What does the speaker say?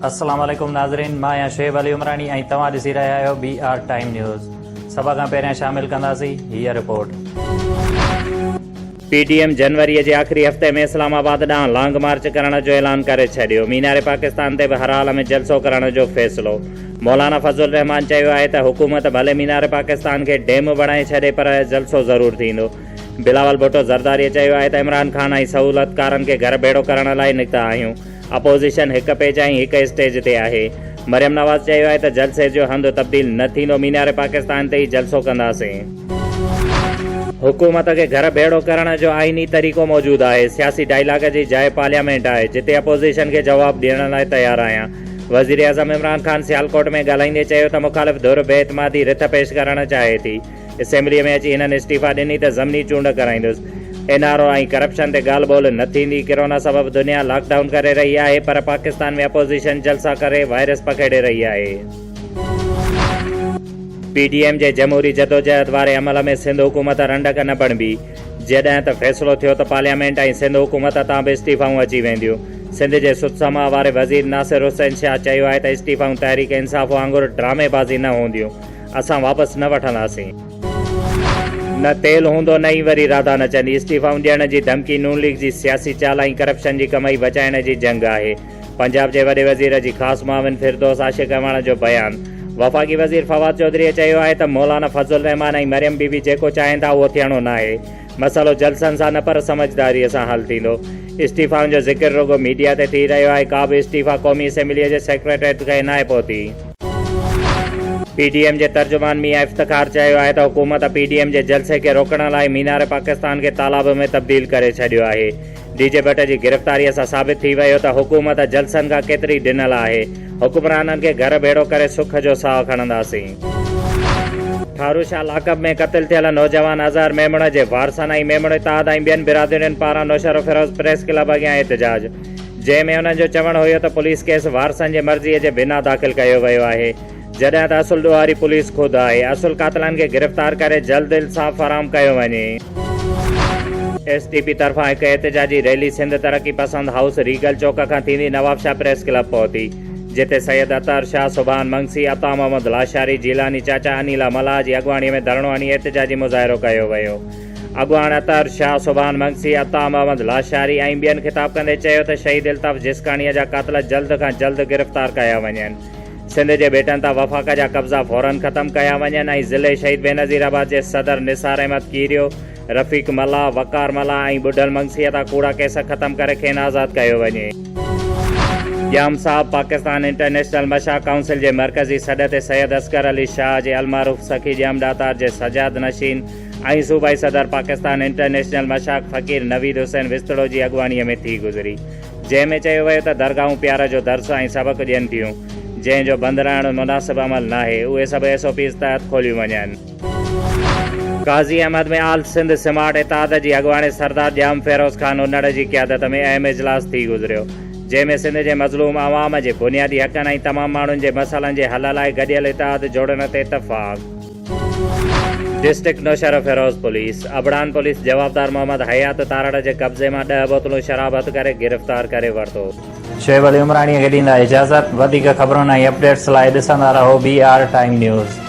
السلام عليڪم ناظرين مان آهيان شعيب علي عمراڻي ۽ توهان ڏسي رهيا آهيو بي آر ٽائيم نيوز سڀ کان پهريان شامل ڪنداسين هيء رپورٽ پي ڊي ايم جنوري جي آخري هفتي ۾ اسلام آباد ڏانهن لانگ مارچ ڪرڻ جو اعلان ڪري ڇڏيو مينار پاڪستان تي به هر حال ۾ جلسو ڪرڻ جو فيصلو مولانا فضل الرحمان چيو آهي ته حڪومت ڀلي مينار پاڪستان کي ڊيم بڻائي ڇڏي پر جلسو ضرور ٿيندو. بلاول ڀٽو زرداريء چيو آهي ته عمران خان ۽ سهولتڪارن کي گهر ڀيڙو ڪرڻ لاء نڪتا آهيون، اپوزيشن هڪ پيج ۽ هڪ اسٽيج تي آهي. مريم نواز چيو آهي ته جلسي جو هنڌ تبديل نه ٿيندو، مينار پاڪستان تي ئي جلسو ڪنداسين. حڪومت کي گهر ڀيڙو ڪرڻ جو آئيني طريقو موجود آهي، سياسي ڊائلاگ جي جاء پارليامينٽ آهي، جتي اپوزيشن کي جواب ڏيڻ لاء تيار آهيان. وزيراعظم عمران خان سيالڪوٽ ۾ ڳالهائيندي چيو ته مخالف ڌر بي اعتمادي رٿ پيش ڪرڻ چاهي ٿي، اسيمبلي ۾ اچي هنن استعيفا ڏني ته ضمني چونڊ ڪرائيندس، اين آر او ۽ ڪرپشن تي ڳالهه ٻولهه نه ٿيندي، ڪرونا سبب دنيا لاڪ ڊائون ڪري رهي آهي پر پاڪستان ۾ اپوزيشن جلسا ڪري وائرس پکيڙي رهي آهي. پي ڊي ايم جي جمهوري جدوجهد واري عمل ۾ سنڌ حڪومت رنڊڪ نه بڻبي، جڏهن ته فيصلو ٿيو ته پارليامينٽ ۽ سنڌ حڪومت تان به استعيفائون اچي وينديون. سنڌ جي سٿ سماء واري وزير ناصر حسين شاهه چيو آهي ته استعيفائون تحريڪ انصاف وانگر ڊرامي بازي نه هونديون، اسان واپس نه وٺنداسين. نه تيل هوندو نه ئي وري راڌا نچندي. استعيفائون ڏيڻ جي ڌمڪي نون ليگ جي سياسي چال ۽ ڪرپشن جي ڪمائي بچائڻ جي جنگ آهي. پنجاب جي وڏي وزير جي خاص معاون فردوس عاشق اعواڻ جو بيان، وفاقي وزير فواد چوڌريء چيو آهي ته مولانا فضل الرحمان ۽ مريم بي بي جيڪو چاهين ٿا اهو ٿيڻو ناهي، مسئلو جلسن سان نه پر سمجهداريء سان حل ٿيندو، استعيفائن جو ذڪر رڳو ميڊيا تي ٿي رهيو آهي، ڪا به استعيفا قومي اسيمبليء جي سيڪريٽريٽ تائين ناهي پهتي. پي ڊي ايم جي ترجمان ميان افتخار چيو آهي ته حڪومت پي ڊي ايم جي جلسي کي روڪڻ لاء مينار پاڪستان کي تالاب ۾ تبديل ڪري ڇڏيو آهي، ڊي جي بٽ جي گرفتاريء سان ثابت ٿي ويو ته حڪومت جلسن کان ڪيتري ڊنل آهي. حڪمرانن کي گهر ڀيڙو ڪري سک جو ساهه کڻنداسين. ٺارو شاهه لاڪپ ۾ قتل ٿيل نوجوان اظهر ميمڻ جي وارثن ۽ ميمڻ اتحاد ۽ ٻين برادرين پاران نوشهروفيروز پريس ڪلب اڳيان احتجاج، جنهن ۾ انهن جو چوڻ هيو ته پوليس ڪيس وارثن جي مرضيء جي بنا داخل ڪيو ويو آهي. جڏهن ته اصل ڏوهاري پوليس خود آهي، اصل قاتلن کي گرفتار ڪري جلد انصاف فراهم ڪيو وڃي. ايس ٽي پي طرفان هڪ احتجاجي ريلي سنڌ ترقي پسند هائوس ريگل چوڪ کان ٿيندي نوابشاهه پريس ڪلب پهتي، جتي سيد اطهر شاهه، سبحان منگسي، عطا محمد لاشاري، جيلاني چاچا، انيلا ملاح جي اڳواڻي ۾ ڌرڻو هڻي احتجاجي مظاهرو ڪيو ويو. اڳواڻ اطهر شاهه، سبحان منگسي، عطا محمد لاشاري ۽ ٻين خطاب ڪندي چيو ته شهيد الطاف جسڪاڻيء جا قاتل جلد کان جلد گرفتار ڪيا وڃن. سنڌ جي ٻيٽن تان وفاق جا قبضا فورن ختم ڪيا وڃن ۽ ضلعي شهيد بينظير آباد جي صدر نثار احمد ڪيريو، رفيق ملاح، وقار ملاح ۽ ٻڍل مگسيء تان ڪوڙا ڪيس ختم ڪري کين آزاد ڪيو وڃي. ڄام صاحب پاڪستان انٽرنيشنل مشاهه ڪائونسل جي مرڪزي سڏ تي سيد اصغر علي شاهه جي المعروف سخي ڄام ڏاتار جي سجاد نشين ۽ صوبائي صدر پاڪستان انٽرنيشنل مشاهه فقير نويد حسين وسطڙو جي اڳواڻيء ۾ ٿي گذري. جنهن ۾ چيو ويو ته درگاهون پيار جو درس ۽ سبق ڏين ٿيون، جنهن جو بند رهڻ مناسب عمل ناهي، اهي سڀ ايس او پيز تحت کوليون وڃن. قاضي احمد ۾ آل سنڌ سمارٽ اتحاد جي اڳواڻي سردار ڄام فيروز خان انڙ جي قيادت ۾ اهم اجلاس ٿي گذريو، جنهن ۾ سنڌ جي مظلوم عوام جي بنيادي حقن ۽ تمام ماڻهن جي مسئلن جي حل لاء گڏيل اتحاد جوڙڻ تي اتفاق. ڊسٽرڪٽ نوشهروفيروز پوليس ابڙان پوليس جوابدار محمد حيات تارڙ جي قبضي مان ڏهه بوتلون شراب هٿ ڪري گرفتار ڪري ورتو. شعيب علي عمراڻيء کي ڏيندا اجازت. وڌيڪ خبرن ۽ اپڊيٽس لاء ڏسندا رهو بي آر ٽائيم نيوز.